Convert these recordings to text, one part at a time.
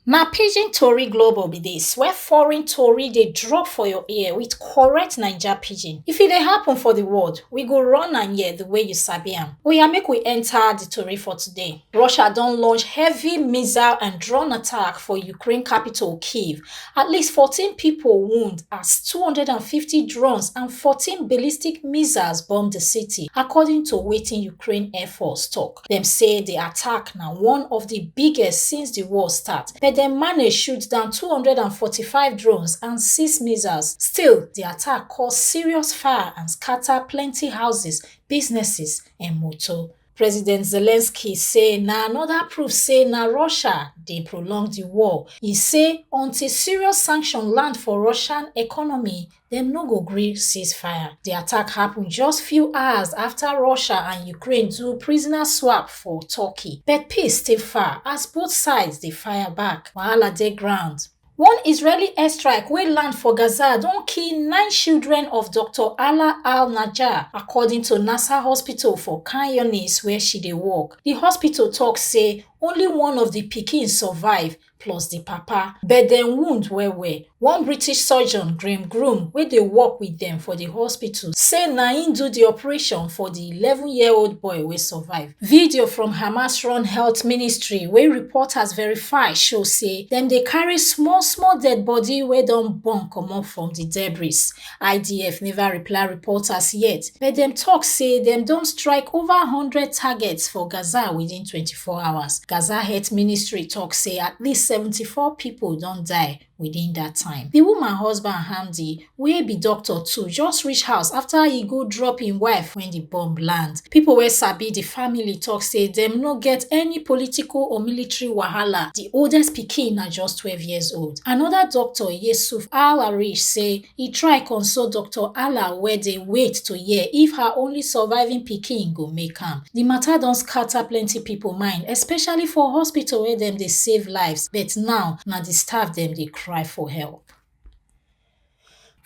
Na pidgin tori global be dis where foreign tori dey drop for your ear with correct Naija pidgin. If e dey happen for the world, we go run am here the way you sabi am. Oya make we enter the tori for today. Russia don launch heavy missile and drone attack for Ukraine capital Kyiv. At least 14 people wound as 250 drones and 14 ballistic missiles bomb the city, according to wetin Ukraine Air Force talk. dem say di attack na one of di biggest since di war start but dem manage shoot down 245 drones and six missiles still di attack cause serious fire and scata plenty houses businesses and motor president zelensky say na anoda proof say na russia dey prolong di war e say until serious sanction land for russian economy dem no go gree ceasefire. Di attack happen just few hours after Russia and Ukraine do prisoner swap for Turkey, but peace still far as both sides dey fire back. Wahala dey ground. One Israeli airstrike wey land for Gaza don kill nine children of Dr. Ala al-Najjar, according to Nasser Hospital for Khan Younis where she dey work. Di hospital talk say only one of di pikin survive plus di papa but dem wound well well one british surgeon graham groom wey dey work wit dem for di hospital say na im do di operation for di eleven year old boy wey survive video from hamas run health ministry wey reporters verify show say dem dey carry small small dead body wey don burn comot from di debris idf neva reply reports yet but dem tok say dem don strike over one hundred targets for gaza within 24 hours gaza health ministry tok say at least 74 pipo don die within dat time di woman husband hamdi wey be doctor too just reach house afta e go drop im wife wen di bomb land pipo wey sabi di family tok say dem no get any political or military wahala di oldest pikin na just 12 years old Anoda doctor, Yesuf Al-Arish, say e try console Doctor Ala wey dey wait to hear if her only surviving pikin go make am. Di mata don scatter plenty pipo mind, especially for hospital where dem dey save lives, but now na di staff dem dey cry for help.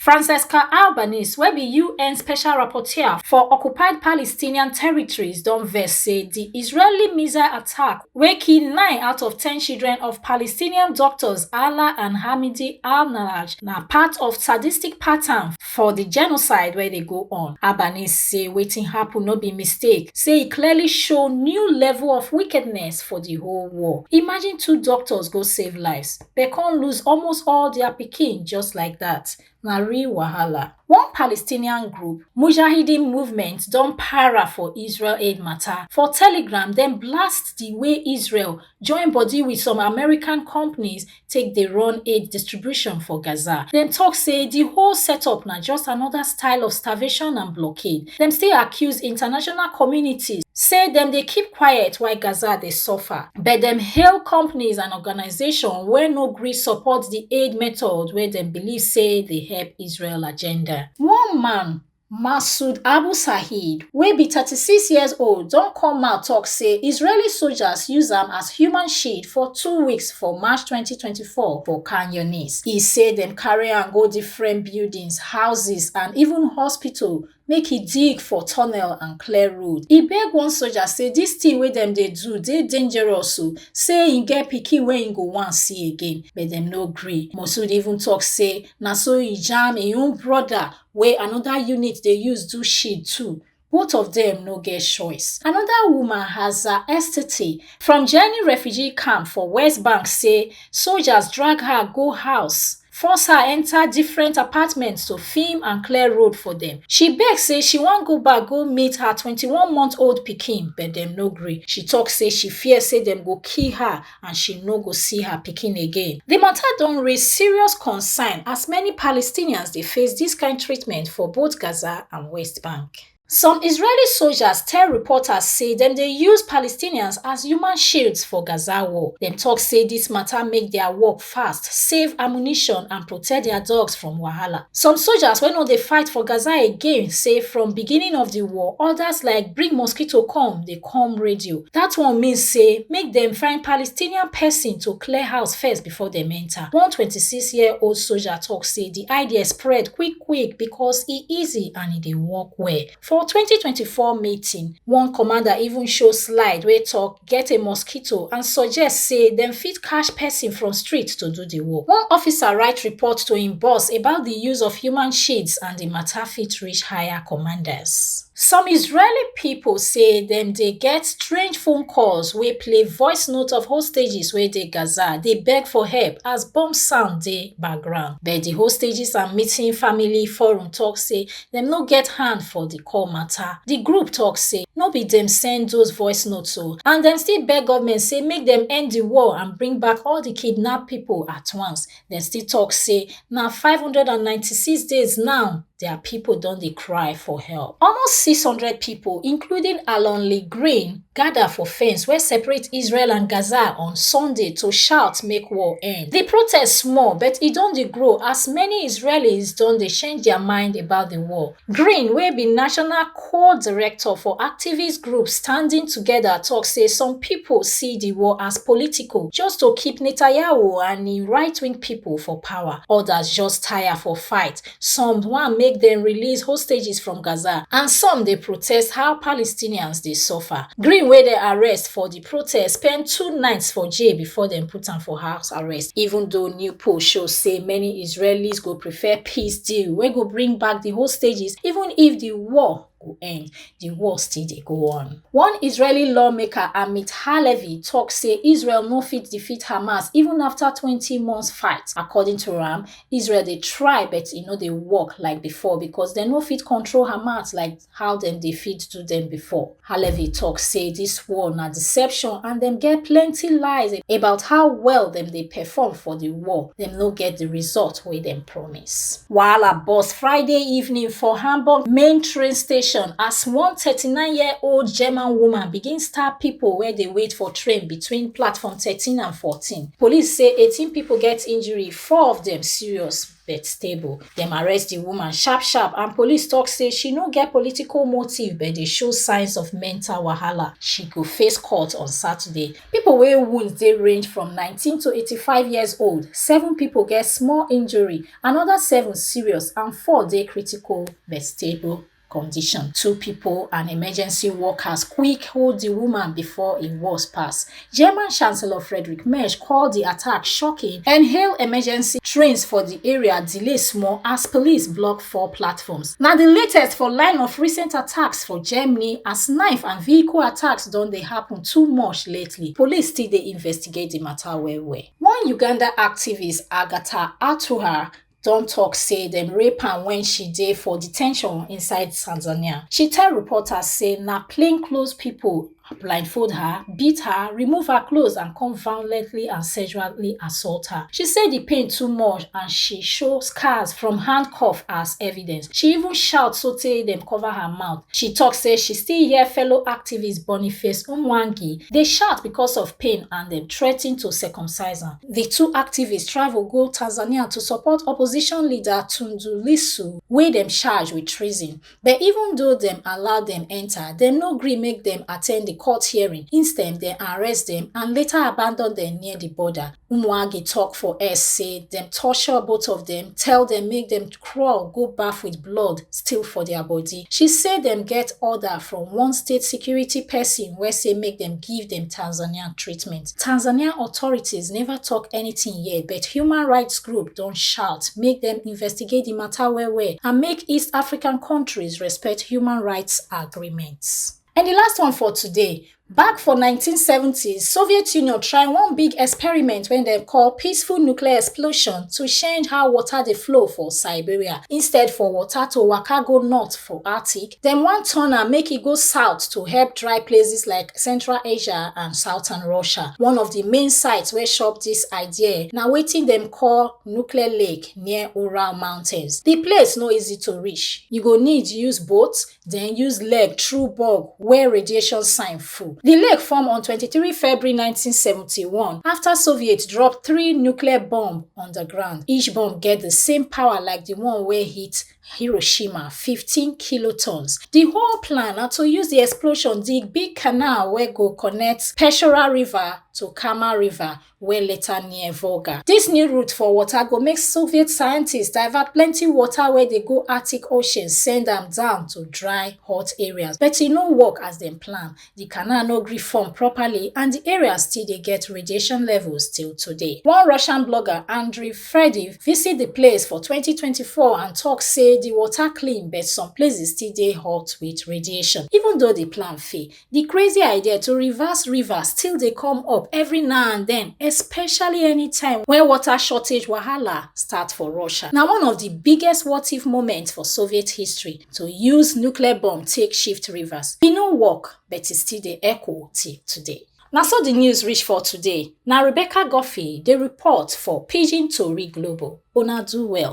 Francesca Albanese wey be UN special rapporteur for occupied Palestinian territories don vex say di Israeli missile attack wey kill nine out of ten children of Palestinian doctors Ala and Hamidi al-Nalaj na part of sadistic pattern for di genocide wey dey go on. Albanese say wetin happen no be mistake, say e clearly show new level of wickedness for di whole war. Imagine two doctors go save lives. dem come lose almost all dia pikin just like dat na real wahala one palestinian group mujahideen movement don para for israel aid mata for telegram dem blast di way israel join body wit some american companies take dey run aid distribution for gaza dem tok say di whole setup na just anoda style of starvation and blockade dem still accuse international communities say dem dey keep quiet while Gaza dey suffer, but dem hail companies and organizations wey no gree support di aid method wey dem believe say dey help Israel agenda. One man, Masoud Abu Saeed, wey be thirty six years old don come out tok say Israeli soldiers use am as human shield for two weeks for March twenty twenty fall for khan younis e say dem carry am go different buildings houses and even hospital make e dig for tunnel and clear road e beg one soldier say dis thing wey dem dey do dey dangerous o say e get pikin wey e go wan see again but dem no gree moshood even talk say na so e jam im own brother wey another unit dey use do shit too Both of them no get choice. Another woman, Haza Estete, from Jenny refugee camp for West Bank say soldiers drag her go house force her enter different apartments to film and clear road for them. She beg say she wan go back go meet her 21 month old pikin but dem no gree. She talk say she fear say dem go kill her and she no go see her pikin again. Di matter don raise serious concern as many Palestinians dey face dis kind treatment for both Gaza and West Bank. Some Israeli soldiers tell reporters say dem dey use Palestinians as human shields for Gaza war. Dem talk say dis matter make their work fast save ammunition and protect dia dogs from wahala some soldiers wey no dey fight for gaza again say from beginning of di war odas like bring mosquito come dey come radio dat one mean say make dem find palestinian pesin to clear house first before dem enta one 26 year old soldier tok say di idea spread quick quick becos e easy and e dey work well For 2024 meeting, one commander even show slide wey talk get a mosquito and suggest say dem fit catch person from street to do the work. One officer write report to im boss about the use of human shades and the matter fit reach higher commanders. Some Israeli people say dem dey get strange phone calls wey play voice note of hostages wey dey Gaza dey beg for help as bomb sound dey background. But the hostages and missing family forum talk say dem no get hand for di call mata di group tok say no be dem send those voice notes o and dem still beg goment say make dem end di war and bring back all di kidnapped pipo at once dem still tok say na five hundred and ninety six days now dia pipo don dey cry for help almost six hundred pipo including alon lee green gada for fence wey separate israel and gaza on sunday to shout make war end di protest small but e don dey grow as many israelis don dey change dia mind about di war green wey be national co-director for activist group standing together tok say some pipo see di war as political just to keep netanyahu and im right-wing pipo for power odas just taya for fight some wan make dem release hostages from gaza and some dey protest how palestinians dey suffer green wey dem arrest for di protest spend two nights for jail before dem put am for house arrest even though new poll show say many israelis go prefer peace deal wey go bring back di hostages even if di war go end, the war still dey go on. One Israeli lawmaker, Amit Halevi, talk say Israel no fit defeat Hamas even after 20 months fight. According to am, Israel dey try but e no dey work like before because dem no fit control Hamas like how dem dey fit do dem before. Halevi talk say this war na deception and dem get plenty lies about how well dem dey perform for the war. Dem no get the result wey dem promise. police. Wahala burst Friday evening for Hamburg main train station as one 39-year-old German woman begin stab pipo wey dey wait for train between platform 13 and 14. Police say 18 pipo get injury, four of dem serious but stable. Dem arrest di woman sharp sharp and police tok say she no get political motive but dey show signs of mental wahala. She go face court on Saturday. pipo wey wound dey range from 19 to 85 years old seven pipo get small injury anoda seven serious and four dey critical but stable condition two pipo and emergency workers quick hold di woman before e worse pass german chancellor frederick merz call di attack shocking and hail emergency trains for di area delay small as police block four platforms. Na di latest for line of recent attacks for Germany as knife and vehicle attacks don dey happen too much lately. Police still dey investigate di matter well well. One Uganda activist, Agatha Atuhar, don tok say dem rape am wen she dey for detention inside Tanzania. She tell reporters say na plainclothes pipo blindfold her beat her remove her clothes and come violently and sexually assault her she say di pain too much and she show scars from handcuff as evidence she even shout sotey dem cover her mouth she tok say she still hear fellow activist boniface umwangi dey shout because of pain and dem threaten to circumcise am di two activists travel go tanzania to support opposition leader tundu lissu wey dem charge wit treason but even though dem allow dem enta dem no gree make dem attend di court hearing instead dem arrest dem and later abandon dem near di border umuagi tok for x say dem torture both of dem tell dem make dem crawl go baff wit blood still for dia body she say dem get order from one state security pesin wey say make dem give dem tanzanian treatment Tanzanian authorities neva tok anytin yet, but human rights groups don shout make dem investigate di mata well-well and make East African kontris respect human rights agreements. And di last one for today, back for 1970s, Soviet Union try one big experiment wey dem call peaceful nuclear explosion to change how water dey flow for Siberia. Instead for water to waka go north for Arctic, Dem wan turn am make e go south to help dry places like Central Asia and Southern Russia. One of di main sites wey shop dis idea na wetin dem call Nuclear Lake near Ural Mountains. Di place no easy to reach. You go need use boat, den use leg through bog wey radiation sign full. Di lake form on twenty three February nineteen seventy one afta Soviets drop three nuclear bomb on di ground. Each bomb get di same power like di one wey hit Hiroshima 15 kilotons. Di whole plan na to use di explosion dig big canal wey go connect Peshora River to Kama River wey later near Volga. Dis new route for water go make Soviet scientists divert plenty water wey dey go Arctic Ocean send am down to dry hot areas but e no work as dem plan. Di canal no gree form properly and di area still dey get radiation levels till today. One Russian blogger, Andriy Frediv, visit di place for twenty twenty four and tok say di water clean but some places still dey hot wit radiation. Even though di plan fail, di crazy idea to reverse river still dey come up every now and den, especially anytime wen water shortage wahala start for Russia. Na one of di biggest what-if moments for Soviet history, to use nuclear bomb take shift rivers e no work but e still dey echo till today na so di news reach for today na rebecca guffey dey report for pidgin tori global una do well